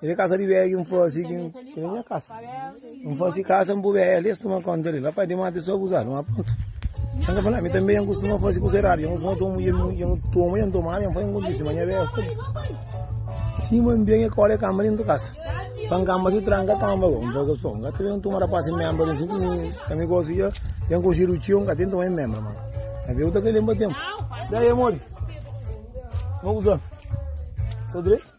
Ele kasa di bea ki n fasi ki n kre nha kasa. N fasi kasa n bu bea ali, es tuma konta ali. Rapaz, di mata é só abuzadu, ma prontu. Xan ka fala, mi tanbê nha kustuma fasi kusa eradu. Nha kustuma toma mulher, nha toma, nha toma, nha fai ingundici, ma nha bea fai. Sima n bia nha kola é kamba dentro kasa. Pa n kamba si tranka kamba bo, n fai ka só. N ka ta ben tuma rapaz sin membra ali, sin ki mi, ka mi gosi dja, dja n konxedu txeu, n ka ten toma en membra, ma. Na bia bu ta kre lenba tenpu. Daí, amor, mo kuzona. Só direito?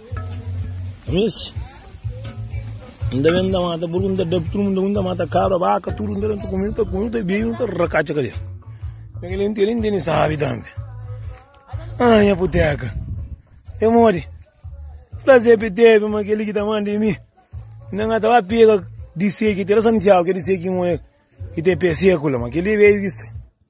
Miss, inda ben nda mata burgu, nda dab tudo mundo, nda mata cabra, vaca, tudo nda nta comi, nta comi, nta bebi, nta racacha cadê? Porque ele inteiro nem sabe também. Ai, a puteca. Eu morri. Prazer que teve, mas aquele que tá mandando em mim. Ainda não tava pega de ser que tem Santiago, que de ser que morre, que tem perseculo, mas aquele veio que